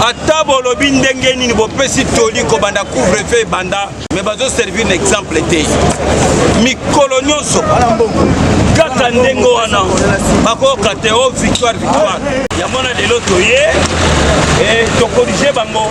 ata bolobi ndenge nini bopesi toli kobanda couvre feu ebanda me bazoservir na exemple te mikolo nyonso kaka ndenge wana bakoyoka te o oh, victoire victoire yango na lelo toye eh, tokorige bango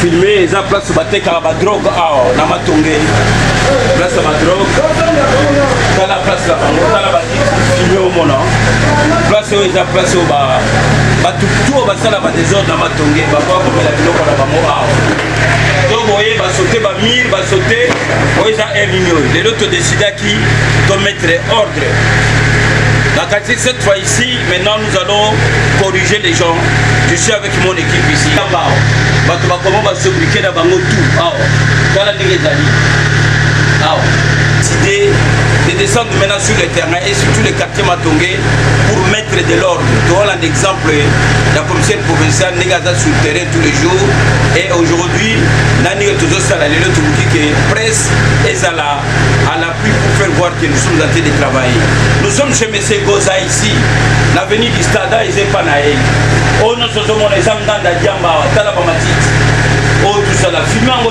filme eza place batekaka badrogue awa na matongeli place ya badrogue tala place na bango tala bafilme omona place oyo eza place oyo bato to basala badesordre na matongeli bakoya komela biloko na bango awa to boye basote bamir basote oyo eza heure nini oyo lelo todecidaki tomettre ordre na kati cette fois ici maintenant nous allons corriger les gens je suis avec mon équipe ici bao bato bakoma basobrike na bango tout awa tala ndenge ezali awa décide de descendre maintenant sur le terrain et surtout le quartier Matongé pour mettre de l'ordre toholanda exemple ya commissaire provincial ndenge aza sur terrain tous les jours et aujourd'hui na ndenge tozosala lelo tokoki ke presse ezala à l'appui pour faire voir que nous sommes en train de travailler nous sommes chez monsieur goza ici l'avenue du stade eza epa na ye oyo oh, nyonso ozomona eza nganda diamba tala bamatiti oyo oh, tosala filme yango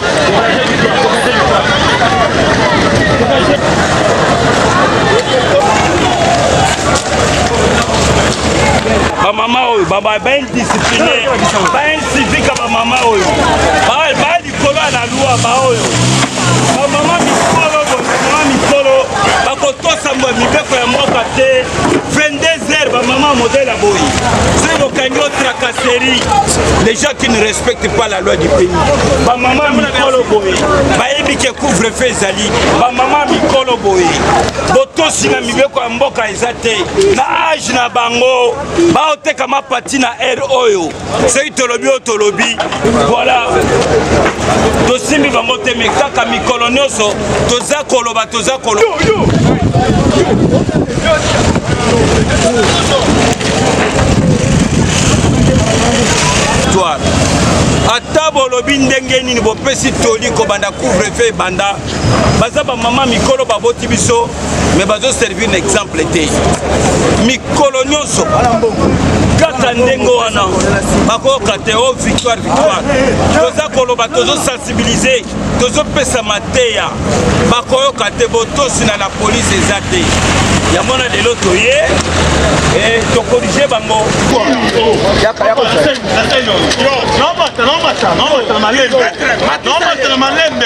bamama oyo baindiscipline bainsivique bamama oyo balikolo ya na lwa baoyo bamama mikolo bamama mikolo bakotosa mibeko ya mboka te 22 heures bamama modele ya boyi soki bokangi o tracasserie les gens qui ne respectent pas loi du pays bamama ya mikolo boye bayebi ke couvre feu ezali bamama ya mikolo boye botosi na mibeko ya mboka eza te na age na bango baoteka mapati na aire oyo soki tolobi oyo tolobi voilà tosimbi bango te me kaka mikolo nyonso toza koloba toza koloba victoire ata bolobi ndenge nini bopesi toli kobanda couvre feu ebanda baza bamama mikolo baboti biso me bazoservir na exemple te mikolo nyonso kaka ndenge wana bakoyoka te o oh, victoire victoire toza koloba tozosala sensibiliser tozopesa mateya bakoyoka te botosi na la police eza te yango na lelo toye eh, tokorige bango malembe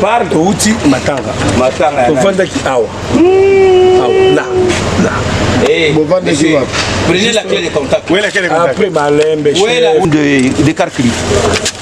par touti matanga tovandaki awa na na eh, bovandaki wapi prenez la clé de contact après malembe de, de carcli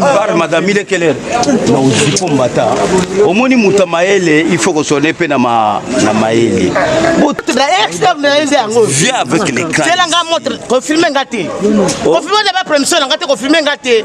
bar madame ile keller na uzipo mbata omoni moto mayele il faut kosone mpe na mayele viens avec les crans zela nga montre confirme nga te confirme na ba promission na nga te confirme nga te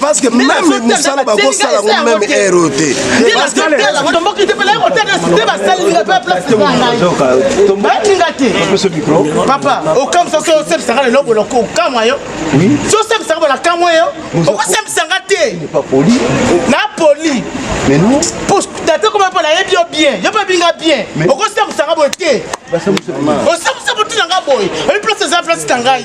parce que même mosala bakosala ngo même heure oyo te papa okamwisa so osepsaka lelo bono okamwa yo so osepsaka bono akamwa yo okosepsanga te na poli tata koma mpo nayebi yo bien yo mpe binga bien okosepsanga boye te osamusa botinanga boye oyi place eza place na ngai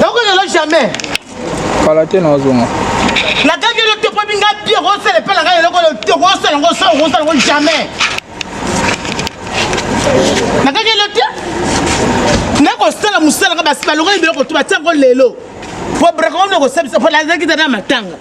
Nako lelo jamais. Kala te na zonga. Na kaki le topo binga pire au sel pela ngai loko le topo au sel ngo sel ngo sel ngo jamais. Na kaki le te. Na ko sala musala ka basi balonga biloko to batia ngo lelo. Po brako ngo ko sabisa po la zaki tana matanga.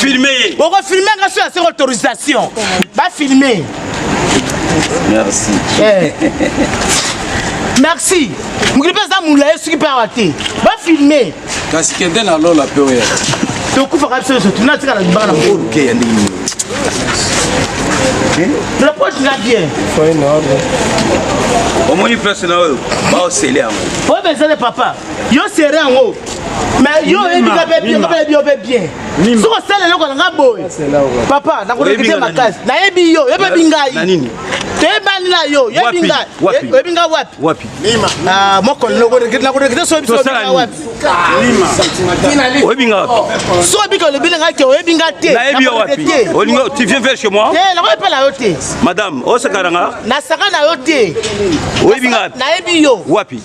filme ye boko filme nga so ya seko autorisation ba filme merci eh. merci mokili mpe aza mula ye soki mpe awa te ba filme kasi kende na lola mpe oya tokufaka biso nyonso tuna tikala libanga na mokolo la poche nga bien omoni place na oyo baosele yango oyo bezale papa yo sere yango mais yo oyebi nga mpe bien nga yo mpe bien soki osala eloko na nga boye papa nakorekite makasi nayebi yo yo mpe bi ngai toyebani na yo yoyebi ngai oyebi ngai wapi ah, mokolo nakorekite so oyebi wapi oyebi ngai wapi so obika olobi na ngai te oyebi ngai te nayebi yo wapi tu viens vers chez moi te nakoyebi mpe na yo te madame osakana nga nasaka na yo te oyebi ngai wapi nayebi yo wapi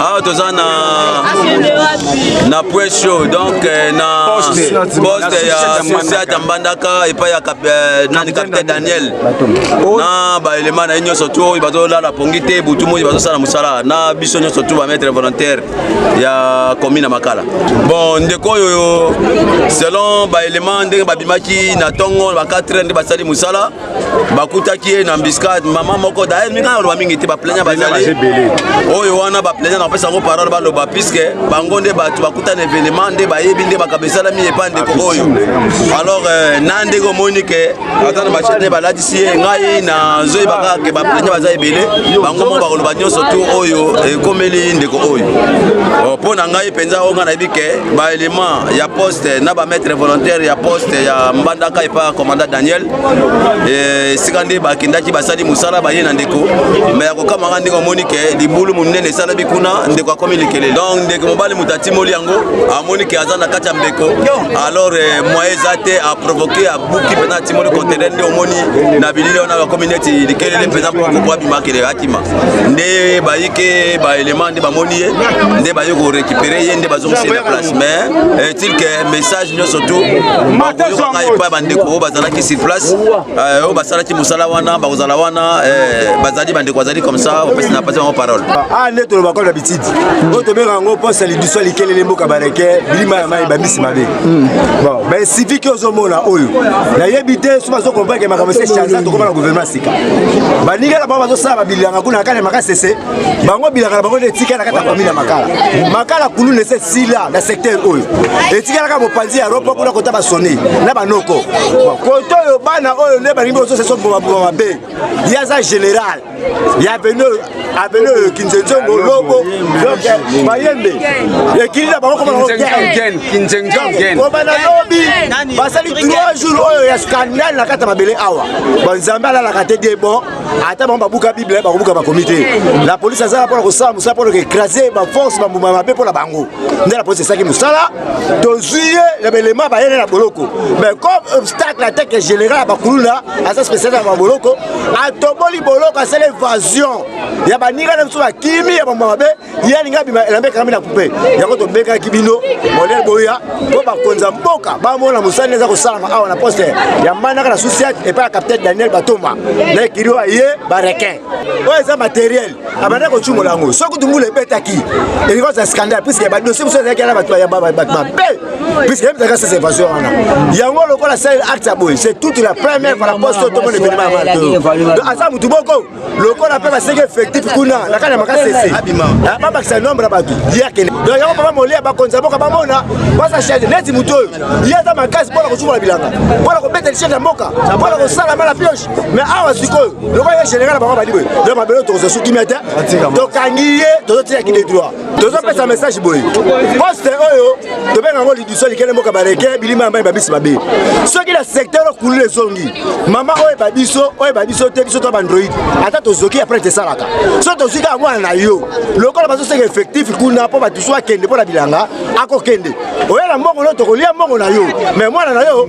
awa toza na na point show donc eh, na poste ya sociate ya mbandaka epai ya eh, nani capitaine daniel na baelema na ye nyonso tu oyo bazolala pongi te butu moi bazosala mosala na biso nyonso tu bamaître volontaire ya commune ya makala bon ndeko oyo selon baelema ndenge babimaki na ntongo ba 4 nde basali mosala bakutaki ye na embuscade mama moko daer mingi naloba mingi te baplaignant bazali oyo wana baplaignant napesa yango parole baloba puiske bango nde bato bakuta na événement nde bayebi nde makambo esalami epa ndeko oyo alors euh, na ndenge omoni ke aza na machete nde balatisi ye ngai nazoyeba kaka ke baplaignant baza ebele bango moko bakoloba nyonso tu oyo ekomeli ndeko oyo oh, mpo na ngai mpenza oyo ngai nayebi ke baélément ya poste na bamaître volontaire ya poste ya mbandaka epa commandant daniel Eh, esika nde bakendaki basali mosala baye na ndeko me ya kokamaka ndenge omoni ke libulu monene esalami kuna ndeko akomi likele donc ndeko mobali moto atimoli yango amoni ke aza na kati ya mbeko alors eh, moye eza te aprovoke abuki mpenza atimoli contener nde omoni na bilili wana bakomi neti likelele mpenza kokoko abimakele akima nde bayike baelema nde bamoni ye nde baye korekipere ye nde bazongisi na place mais est-il eh, que message nyonso tu bakoyokaka epai bandeko oyo bazalaki sur place eh, oyo basalaki mosala wana bakozala wana eh, bazali bandeko bazali comme ça opesi na pasi bango parole ah nde toloba kaka na bitidi oyo tobengaka yango posa ya lidusu ya likelele mboka bareke bilima ya mai bambisi mabe hmm. bon bainsivique ozomona oyo nayebi te so bazokompreke makambo se chanza tokoma na gouvernement sika baninga na bango bazosala babilianga kuna kaka na makasese bango bilaka na bango nde etikala kaka famille ya makala makala kuluna ese sila na secteur oyo etikalaka mopanzi ya ropo kuna kota basoni na banoko koto oyo bana oyo nde balingi bososesa bobaboma mabe ye aza général ya aveni oyo aveni oyo kinzenzongo lobo mayembe ekili na bango kobana lobi basali 3 jours oyo ya scandale na kati ya mabele awa banzambe alalaka te de bon ata bango babuka bible bakobuka bakomi te la polise azalaka mpona kosala mosala mpona koekrase baforce bambuma mabe mpo na bango nde la polise esalaki mosala tozwi ye na baelema bayene na boloko mais comme obstacle atake général ya bakuluna aza spécialiste ya baboloko atoboli boloko asala evasion ya baninga na biso bakimi ya bambuma mabe ye alingi abima elamba ekangami na kupe yango tobengaki bino modele boya mpo bakonzi ya mboka bamona mosala nde eza kosalama awa na poste ya manaka na susiat epai ya capitaine daniel batoma na ekili oyo aye barequin oyo eza materiel abanda kocumola yango soki kutu mbula ebetaki elikosa ya scandale puiske badosie mosusu ezalaki na bato mabe puiske yebisaka sese evasion wana yango lokola sale acte ya boye c'est toute la première fois na poste oyo tomona evenema ya mato aza motu boko lokola mpe baseki effectif kuna na kati ya makasi ese ah, babakisa nombre ya bato ye akende donc yango papa molia bakonzi ya mboka bamona basa change neti moto oyo ye aza makasi mpona kosukola bilanga mpona kobeta lichete ya mboka mpona kosala mala pioche mais awa sikoyo lokola ye général bango badi boye donc mabele tokozwa su kimia te tokangi ye tozotia kide droit tozopesa message boye poste oyo tobenga yango liduso likele mboka baleke bilima ya mai babiso babe soki na secteur oyo kulula ezongi mama oyo eba biso oyo eba biso te biso to bandroid ata tozoki apres tesalaka so tozwi kaka mwana na yo lokola bazoseka effectif kuna mpo bato so akende mpo na bilanga akokende oya na mbongo no tokolia mbongo na yo me mwana na yo